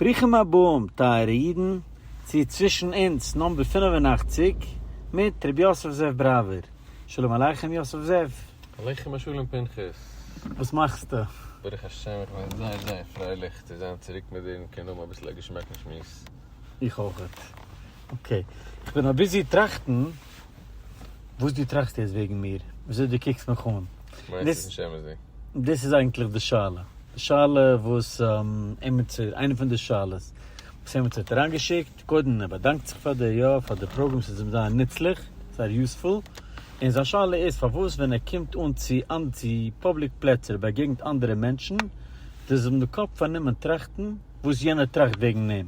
ברוכים הבאים טייערע אידן צו צווישן אונז נאמבער פֿינף און אַכציק מיט ר' יוסף זאב בראווער. שלום עליכם יוסף זאב. עליכם השלום פנחס. וואס מאכסטו? ברוך השם איך בין זייער זייער פרייליך צו זיין צוריק מיט דיר און קענען האבן אביסל א געשמאקן שמועס. איך אויכעט. אקעי. איך בין אביזי טראכטן. וואס דו טראכסט יעצט וועגן מיר, וויאזוי דו קוקסט מיך אן, דאס איז אייגנטליך די שאלה, די שאלה וואס עמיצער, איינע פון די שאלות וואס עמיצער האט אריינגעשיקט, קודם ער באדאנקט זיך פאר די, יא, פאר די פראגראם, ס'איז אים זייער נוצליך, זייער יוזפול, און זיין שאלה איז פארוואס ווען ער קומט אן צו צו פובליק פלעצער און באגעגנט אנדערע מענטשן, דאס איז אים די קאפ פארנומען טראכטן וואס יענער טראכט וועגן אים.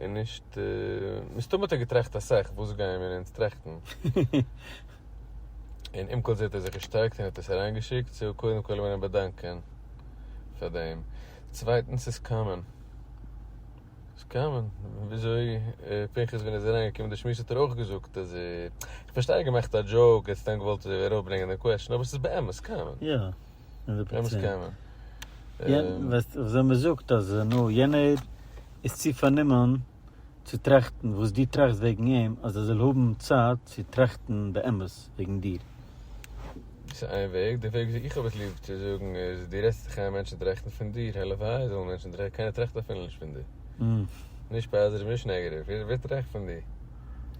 און נישט, מסתמא האט ער געטראכט אסאך, וואס גייען מיר אונז טראכטן? און עם כל זה האט ער זיך געשטארקט און האט עס אריינגעשיקט, סאו קודם כל וויל איך אים באדאנקען פאר דעם. צווייטנס ס'איז קאמאן. ס'איז קאמאן. וויאזוי פנחס ווען ער איז אריינגעקומען די שמועס האט ער אויך געזאגט אז ער, איך פארשטיי ער האט געמאכט א דזשאוק, ער האט סתם געוואלט ארויפברענגען דעם קוועסטשן, אבער ס'איז באמת קאמאן. יא. הונדערט פראצענט. באמת קאמאן. ווייסט, וויאזוי מ'זאגט אז נו יענער. איז צו פארנומען צו טראכטן וואס דו טראכסט וועגן אים אז ער זאל האבן צייט צו טראכטן באמת וועגן דיר. דאס איז איין וועג, דער וועג וויאזוי איך האב עס ליב צו זאגן איז, דו רעדסט זיך איין מענטשן טראכטן פון דיר, הלוואי זאלן מענטשן טראכטן, קיינער טראכט אפילו נישט פון דיר, נישט פאזעטיוו נישט נעגעטיוו, ווער טראכט פון דיר?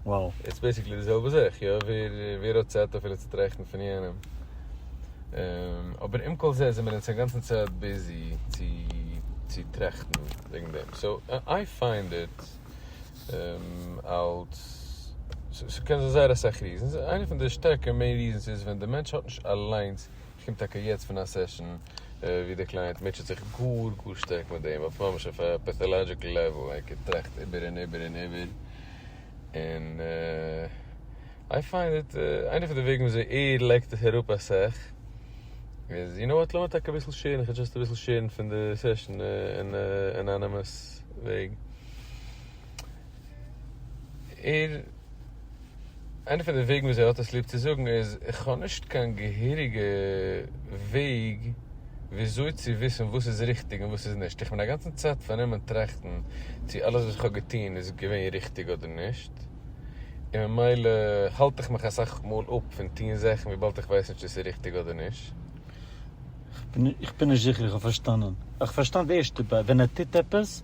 וואו. איטס בעסיקלי די זעלבע זאך, יא, ווער האט צייט אפילו צו טראכטן פון יענעם, אבער עם כל זה זעמיר אונז אינגאנצן צייט ביזי צו צו טראכטן וועגן דעם, סאו איי פיינד איט אלס, ס'קען זיין זייער אסאך ריזענס, איינע פון די שטערקע מעין ריזענס איז ווען די מענטש האט נישט אליינס כ'קום טאקע יעצט פון א סעשאן ווי די קלייענט מוטשעט זיך גאר גאר שטארק מיט דעם, אויף ממש אויף א פעטאלאדזשיקל לעוועל, ער טראכט איבער און איבער און איבער, און איי פיינד איט, איינע פון די וועגן ווי אזוי ער לייגט עס אראפ אסאך איז, יו נאו וואט, לאמיר טאקע אביסל שעירן, איך האב דזשאסט אביסל שעירן פון די סעשאן אין א אנאנימעס וועג, ער. איינע פון די וועגן וואס ער האט עס ליב צו זאגן איז, איך האב נישט קיין געהעריגע וועג וויאזוי צו וויסן וואס איז ריכטיג און וואס איז נישט, איך בין אגאנצן צייט פארנומען טראכטן צו אלעס וואס איך האב געטון איז געווען ריכטיג אדער נישט, און ממילא האלט איך מיך אסאך מאל אפ פון טון זאכן וויבאלד איך ווייס נישט צו ס'איז ריכטיג אדער נישט. איך בין נישט זיכער איך האב פארשטאנען. איך האב פארשטאנען די ערשטע ביי ווען ער טוט עפעס.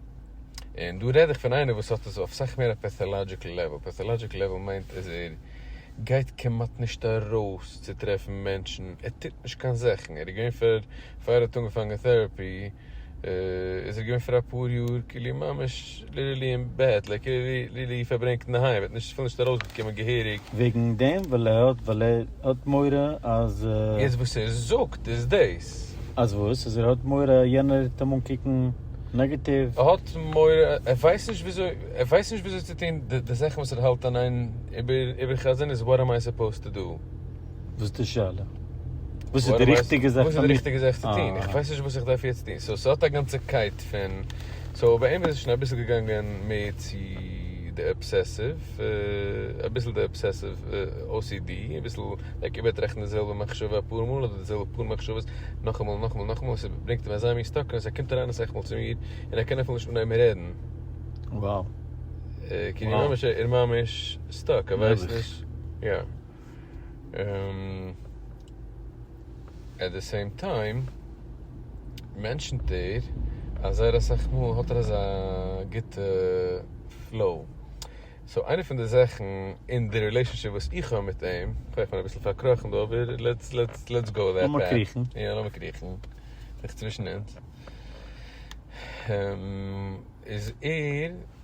און דא רעד איך פון איינער וואס האט עס אויף סאך מער א פעטאלאדזשיקל לעוועל, פעטאלאדזשיקל לעוועל מיינט אז ער גייט כמעט נישט ארויס צו טרעפן מענטשן, ער טוט נישט קיין זאכן, ער איז געווען פאר פאר ער האט אנגעפאנגען טעראפי איז ער געווען פאר אפאר יאר כאילו ממש ליטערלי אין בעט, לייק ליטערלי פארברענגט אינדערהיים, ער האט נישט אפילו נישט ארויסגעקומען געהעריג. וועגן דעם וויל ער האט ווייל ער האט מורא אז. יעצט וואס ער זאגט איז דאס. ס. אז וואס? אז ער האט מורא יענער וועט אים אנקוקן נעגעטיוו? ער האט מורא, ער ווייסט נישט וויאזוי, ער ווייסט נישט וויאזוי צו טון די זאכן וואס ער האלט און איין איבער חזנות וואט עם איי סופאוזט טו דא? וואס איז די שאלה? וואס איז די ריכטיגע זאך פאר מיר צו טון? איך ווייס נישט וואס איך דארף יעצט טון, סאו ס'האט א גאנצע קייט פון, סאו ביי אים איז עס שוין אביסל געגאנגען מער צו די אבסעסיוו, אביסל די אבסעסיוו או סי די, אביסל לייק איבערטראכטן די זעלבע מחשבה אפאר מאל אדער די זעלבע פאר מחשבות נאכאמאל און נאכאמאל און נאכאמאל און ס'ברענגט אים אזא מין סטאקנעס ער קומט אריין אסאך מאל צו מיר און ער קען אפילו נישט אנהייבן רעדן וואו. כאילו ממש ער איז ממש סטאק ער ווייסט נישט. עט די סעים טיים מענטשנט ער אז זייער אסאך מאל האט ער אזא גוטע פלאו, סאו איינע פון די זאכן אין די רילעישאנשיפ וואס איך האב מיט אים, איך בין אביסל פארקראכן דא אבער לעטס גאו דעט פעט, יא לאמיר קריכן זיך צווישן אונז, איז ער.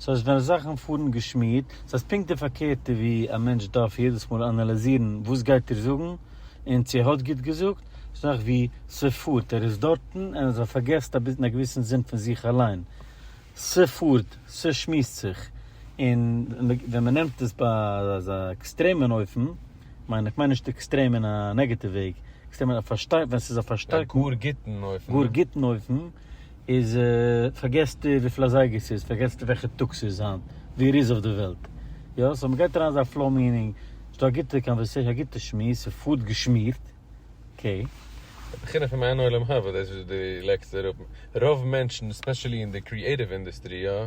סאו אז ווען זאכן פארן געשמירט, סאיז פונקט די פארקערטע ווי א מענטש דארף יעדעס מאל אנאליזירן וואס גייט ער זאגן און צו ער האט גוט געזאגט, זאך ווי ס'פארט ער איז דארטן און אז ער פארגעסט אביס אין א געוויסן זין פון זיך אליין, ס'פארט ס'שמועסט זיך, און ווען מ'נעמט עס ביי אזא עקסטרעמען אופן, מיין איך מיין נישט עקסטרעם אין א נעגעטיוו וועג, עקסטרעם אין א פארשטייט ווען ס'איז א פארשטייט א גאר גוטן אופן. גאר גוטן אופן. איז פארגעסטו וויפיל אזייגער ס'איז, פארגעסטו וועלכע טאג ס'איז היינט, ווי ער איז אויף די וועלט. יא, סאו מ'גייט אריין אין אזא פלאו מיענינג, ס'דא א גוטע קאנווערסעישאן, א גוטע שמועס, ס'פארט געשמירט. אקעי. די בחינה פון מעין עולם הבא, דאס וואס דו לייגסט אראפ, רוב מענטשן, ספעשעלי אין די קריעטיוו אינדוסטרי, יא,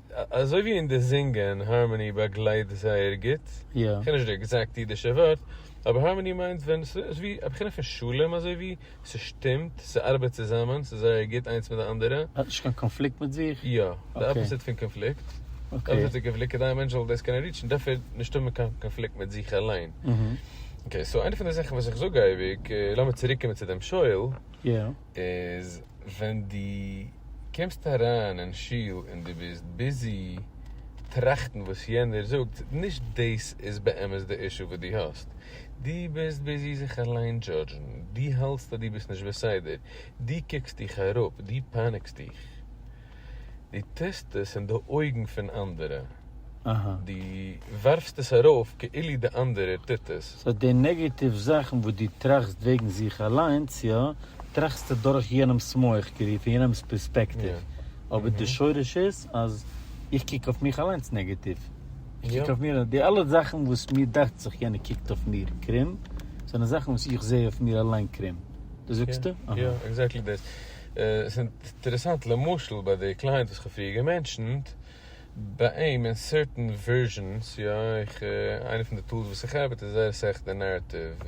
אזוי ווי אין די זינגען, הארמאני באגלייט זייער גוט, כ'קען נישט די עקזעקט אידישע ווארט, אבער הארמאני מיינט ווען ס'איז ווי א בחינה פון שלום אזוי ווי, ס'שטימט, ס'ארבעט צוזאמען, ס'איז זייער גוט איינס מיט די אנדערע. האט נישט קיין קאנפליקט מיט זיך? יא, די אפאזיט פון קאנפליקט, די אפאזיט פון קאנפליקט, כדי א מענטש זאל דאס קענען ריטשן דארף ער נישט האבן קיין קאנפליקט מיט זיך אליין. אקעי, סאו איינע פון די זאכן וואס איך זאג אייביג, לאמיר צוריקקומען צו דעם שואל, איז ווען דו קומסט אריין אין שול און דו ביסט ביזי טראכטן וואס יענער זאגט, נישט דאס איז באמת די אישו וואס דו האסט, דו ביסט ביזי זיך אליין דזשאדזשן, דו האלטסט אז דו ביסט נישט בסדר, דו קוקסט דיך אראפ, דו פאניקסט דיך. דו טוסט עס אין די אויגן פון אנדערע, דו ווארפסט עס ארויף כאילו די אנדערער טוט עס. סאו די נעגעטיוו זאכן וואס דו טראכסט וועגן זיך אליינס, יא, טראכסטו דורך יענעמ'ס מח, כאילו פון יענעמ'ס פערספעקטיוו, אבער די שורש איז אז איך קוק אויף מיך אליינס נעגעטיוו, איך קוק אויף מיר, די אלע זאכן וואס מיר דאכט זיך יענער קוקט אויף מיר קרום, זענען זאכן וואס איך זע אויף מיר אליין קרום, דאס זאגסטו? יא, עקזעקטלי דאס. עס איז אינטערעסאנט למשל ביי די קליינט וואס כ'האב פריער געמענטשענט, ביי אים אין סערטען ווערזשענס, יא איך, איינע פון די טולס וואס איך עבד איז זייער אסאך די נערעטיוו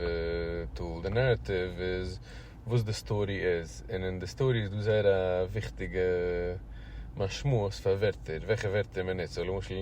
טול, די נערעטיוו איז וואס די סטארי איז, און אין די סטארי איז דא זייער א וויכטיגע משמעות פאר ווערטער, וועלכע ווערטער מען נוצט, סאו למשל.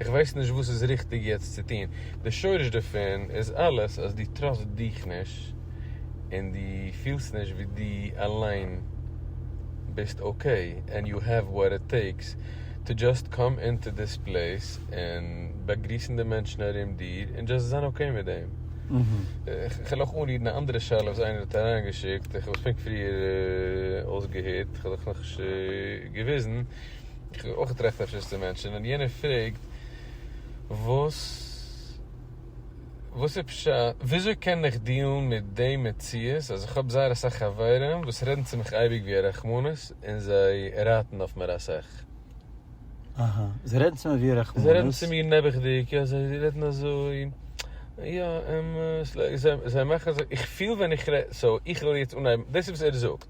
איך ווייס נישט וואס איז ריכטיג יעצט צו טון, די שורש דערפון איז אלעס אז דו טראסט דיך נישט און דו פילסט נישט ווי דו אליין ביסט אקעי ענד יו העוו וואט איט טעיקס טו דזשאסט קאם אינטו דיס פלעיס און באגריסן די מענטשן ארום דיר און דזשאסט זיין אקעי מיט דעם. איך וויל אויך אנרירן א אנדערע שאלה וואס איינער האט אריינגעשיקט, איך האב עס פונקט פריער אויסגעהערט, איך האב דאך נאכנישט געוויזן. איך האב אויך געטראכט אפשר עס צו מענטשענען, און יענער פרעגט וואס וואס איז פשט, וויאזוי קען איך דיעלן מיט די מציאות אז איך האב זייער אסאך חברים וואס רעדן צו מיך אייביג ווי א רחמנות און זיי רייטן אויף מיר אסאך. אהא, זיי רעדן צו מיר ווי א רחמנות. זיי רעדן צו מיר נעבעכדיג, יא זיי רעדן אזוי, יא, זיי מאכן אזוי, איך פיל ווען איך רעד, סאו איך וועל יעצט אנהייבן, דאס איז וואס ער זאגט.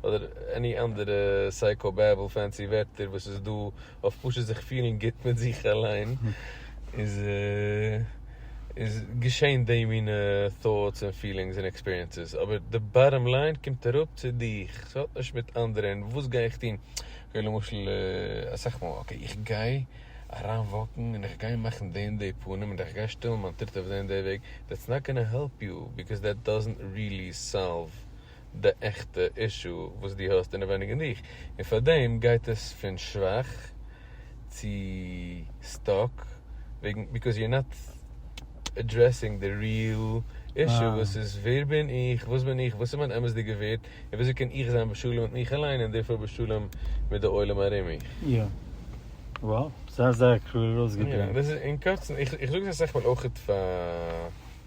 אדער עני אנדערע סייקאו בעבל פענסי ווערטער וואס איז דא אויף פשוט זיך פילן גוט מיט זיך אליין איז איז געשען די מינע thoughts און פילינגס און עקספיריענסעס אבער די באטאם ליין קומט אראפ צו דיך ס'האט נישט מיט אנדערע און וואס גיי איך טון אקעי למשל אסאך מאל אקעי איך גיי אריין וואקן און איך גיי מאכן די און די פנים און איך גיי שטעלן מיין טריט אויף די און די וועג דעטס נאט גאנא העלפ יו בעקאז דעט דאזענט רילי סאלוו די עכטע אישו וואס דו האסט אינעווייניג אין דיך, און פארדעם גייט עס פון שוואך צו סטאק וועגן ביקאוז יור נאט עדרעסינג די ריעל אישו וואס איז ווער בין איך, וואס בין איך, וואס איז מיין אמת'דיגע ווערד, און וויאזוי קען איך זיין בשלום מיט מיך אליין און דערפאר בשלום מיט די עולם ארום מיך. יא. וואו. זייער זייער קלאר אויסגעדריקט. יא, דאס איז אין קורצן, איך זאג עס אסאך מאל אויכעט פאר.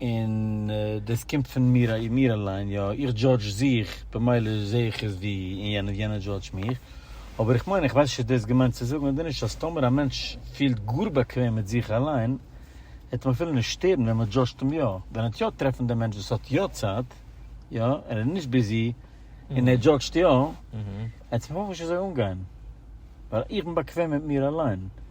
און דאס קומט פון מיר מיר אליין, יא, איך דזשאדזש זיך, במילא זע איך עס ווי און יענער און יענער דזשאדזשט מיך, אבער איך מיין, איך ווייס נישט איז דאס געמיינט צו זאגן אדער נישט, אז טאמער א מענטש פילט גאר באקוועם מיט זיך אליין, וועט אים אפילו נישט שטערן ווען מען דזשאדזשט אים יא, ווען ער וועט יא טרעפן דעם מענטש וואס האט יא צייט, יא, ער איז נישט ביזי, און ער דזשאדזשט יא, וועט עס אים ממש נישט אזוי אנגיין, ווייל איך בין באקוועם מיט מיר אליין.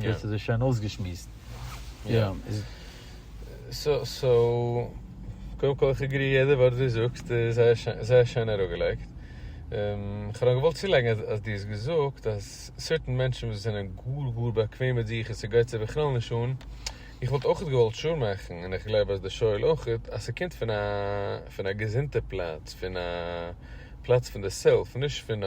דאס איז עס שוין אויסגעשמועסט. יא. סאו, קודם כל איך עגרי יעדע ווארט דו זאגסט איז זייער שיין אראפגעלייגט. כ'האב נאר געוואלט צולייגן אז דו האסט געזאגט אז סערטען מענטשן וואס זענען גאר גאר באקוועם מיט זיך און ס'גייט זיי בכלל נישט אן, איך וואלט אויך געוואלט שור מאכן און איך גלייב אז דער שואל אויך, אז ס'קומט פון א פון א געזונטע פלאץ, פון א פלאץ פון די סעלף, נישט פון א.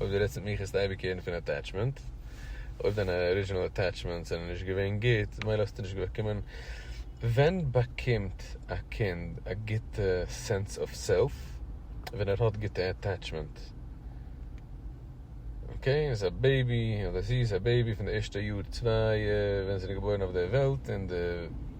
אויב דו רעדסט מיט מיך העסטו אייביג הערן פון אטעטשמענט, אויב דיינע ארידזשינעל אטעטשמענטס זענען נישט געווען גוט מילא האסטו נישט באקומען, ווען באקומט א קינד א גוטע סענס אוו סעלף? ווען ער האט גוטע אטעטשמענט, אקעי ער איז א בעיבי אדער זי איז א בעיבי פון די ערשטע יאר צוויי ווען זי איז געבוירן אויף די וועלט און די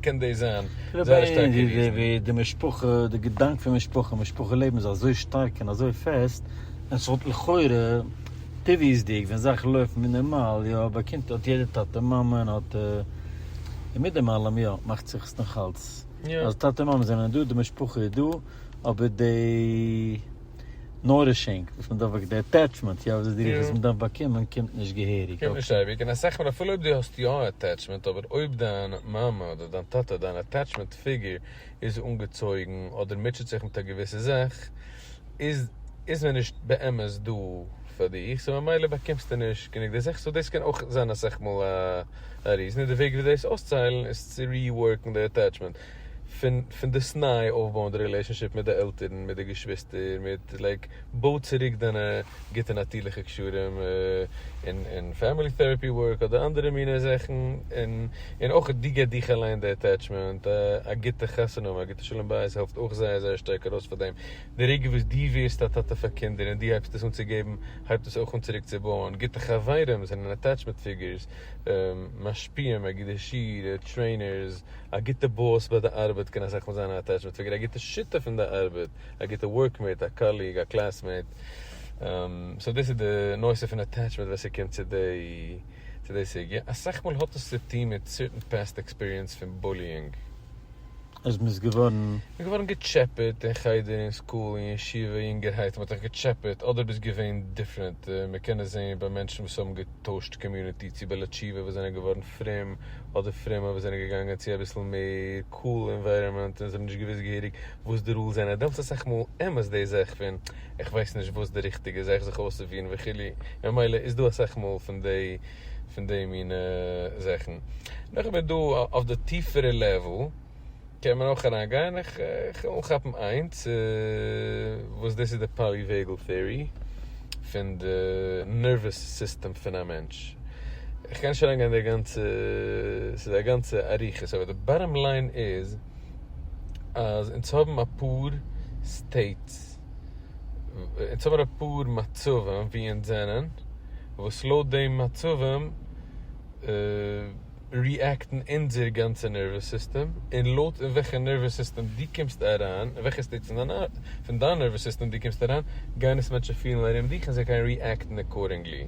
קען דאס זיין זייער שטארקע ריזן. די משפחה, די געדאנק פון משפחה, משפחה לעבן איז אזוי שטארק און אזוי פעסט, אז ס'וואלט לכאורה, טבעיות'דיג, ווען זאכן לויפן ווי נארמאל, יא, ביי קינד האט יעדער טאטע און מאמע און האט, און מיט דעם אלעם, יא, מאכט זיך עס נאכאלץ, אז טאטע און מאמע זענען דא, די משפחה איז דא, אבער די. נארישינג וואס מען דארף די עטעטשמענט יא וואס איז די רוח וואס מען דארף באקומען קומט נישט געהעריג קומט נישט אייביג און א סאך מאל אפילו אויב די האסט יא א עטעטשמענט אבער אויב דיין מאמע אדער דיין טאטע דיין עטעטשמענט פיגור איז אנגעצויגן אדער מוטשעט זיך מיט א געוויסע זאך איז איז מען נישט באמת דא פאר דיך סאו ממילא באקומסטו נישט גענוג די זאך סאו דאס קען אויך זיין א סאך מאל א ריזן און די וועג ווי דאס אויסצוהיילן איז צו ריווארקן די עטעטשמענט פון דאס ניי אויפבויען די רילעישאנשיפ מיט די עלטערן, מיט די געשוויסטער, מיט לייק בוי צוריק דיינע גוטע נאטירליכע קשרים און פעמילי טעראפי ווארק אדער אנדערע מיני זאכן, און אויך דו גיב דיך אליין די עטעטשמענט, א גוטע חתונה האבן, א גוטע שלום בית העלפט אויך זייער זייער שטארק ארויס פאר דעם, די רגע וואס דו ווערסט א טאטע פאר קינדער און דו הייבסט עס אן צו געבן הייבט עס אויך אן צוריק צו בויען, גוטע חברים זענען עטעטשמענט פיגורס, משפיעים, מגידי שיעור, טרעינערס. א גוטע באס ביי די ארבעט קען אסאך מאל זיין א אטעטשמענט פיגור, א גוטע שותף אין די ארבעט, א גוטע ווארקמעיט, א קאליג, א קלעסמעיט, סאו דאס איז די נושא פון אטעטשמענט ווען ס'קומט צו די סוגיא, אסאך מאל האט עס צו טון מיט סערטען פעסט עקספיריענס פון בוליאינג. אז מען איז געווארן. מ'איז געווארן געטשעפעט אין חדר, אין סקול, אין ישיבה, יונגערהייט מ'האט דיך געטשעפעט, אדער ביסט געווען דיפרענט, מ'קען עס זעהן ביי מענטשן וואס האבן געטוישט קאמיוניטי צו בעלי תשובה וואס זענען געווארן פרום אדער פרומע וואס זענען געגאנגען צו אביסל מער קאל אינווייראמענט און זיי האבן נישט געוואוסט געהעריג וואס די רולס זענען דעמאלטס אסאך מאל אמת די זאך פון איך ווייס נישט וואס די ריכטיגע איז איך זיך אויסצופירן וכו' ממילא איז דא אסאך מאל פון די פון די מינע זאכן נאכדעם איז דא אויף די טיפערע לעוועל. קען מען אויך אריין גיין, איך וויל אנכאפן איינס וואס דאס איז די פאליוועגעל טעארי פון די נערוועס סיסטעם פון א מענטש, איך גיי נישט אריין גיין אין די גאנצע, ס'איז א גאנצע אריכות, אבער די באטאם ליין איז אז אונז האבן אפאר סטעיטס, אונז האבן אפאר מצבים ווי אונז זענען, וואס לויט די מצבים. ריעקטן אונזער גאנצע נערוועס סיסטעם, און לויט אין וועלכע נערוועס סיסטעם דו קומסט אריין, אין וועלכע סטעיט פון דיין נערוועס סיסטעם דו קומסט אריין, גייען עס מענטשן פילן ארום דיך און זיי גייען ריעקטן אקארדינגלי.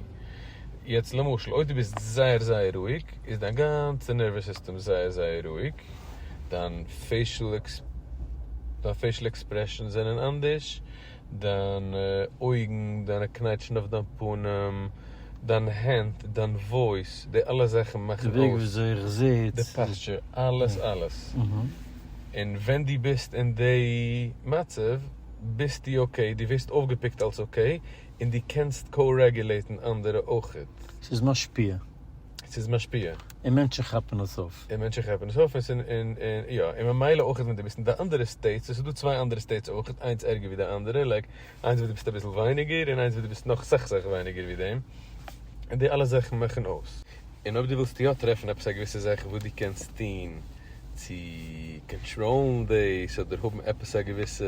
יעצט למשל, אויב דו ביסט זייער זייער רואיג, איז דיין גאנצע נערוועס סיסטעם זייער זייער רואיג, דיין פעישעל עקספרעשאנס זענען אנדערש, דיינע אויגן, דיינע קנייטשן אויף דיין פנים, דיין הענט, דיין וואויס, די אלע זאכן מאכן אויס, די וועג וויאזוי איך זיץ, די פאסטשער, אלעס אלעס, און ווען דו ביסט אין די מצב ביסטו אקעי, דו ווערסט אויפגעפיקט אלס אקעי, און דו קענסט קאו-רעגולעיטן אנדערע אויכעט. ס'איז משפיע. ס'איז משפיע. און מענטשן כאפן עס אויף. און מענטשן כאפן עס אויף, און ס'איז, און, און, יא, און ממילא אויכעט ווען דו ביסט אין די אנדערע סטעיטס, און ס'איז דא צוויי אנדערע סטעיטס אויכעט, איינס ערגער ווי די אנדערע, לייק, איינס וואס דו ביסט אביסל ווייניגער, און איינס וואס דו ביסט נאך סך סך ווייניגער ווי דעם, און די אלע זאכן מאכן אויס. און אויב דו ווילסט יא טרעפן עפעס א געוויסע זאך וואס דו קענסט טון צו קאנטראלן דאס, אדער האבן עפעס א געוויסע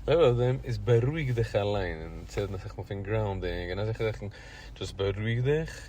לעוועל אויף דעם, איז בארואיג דיך אליין, און צו רעדן אסאך מאל פון גראונדינג און אזעלכע זאכן, דשאסט בארואיג דיך,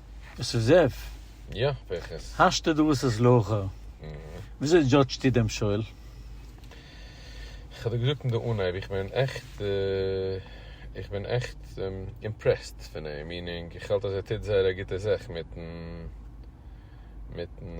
עס איז זיף. יא, פרחס. האסטו דא וואס איז לאחר. וויאזוי דזשאדזשטו דעם שואל? כ'האב דיר געזאגט אין די אנהייב, איך בין עכט, איך בין עכט אימפרעסט פון אים, מיענינג, איך האלט אז ער טוט זייער א גוטע זאך מיטן, מיטן.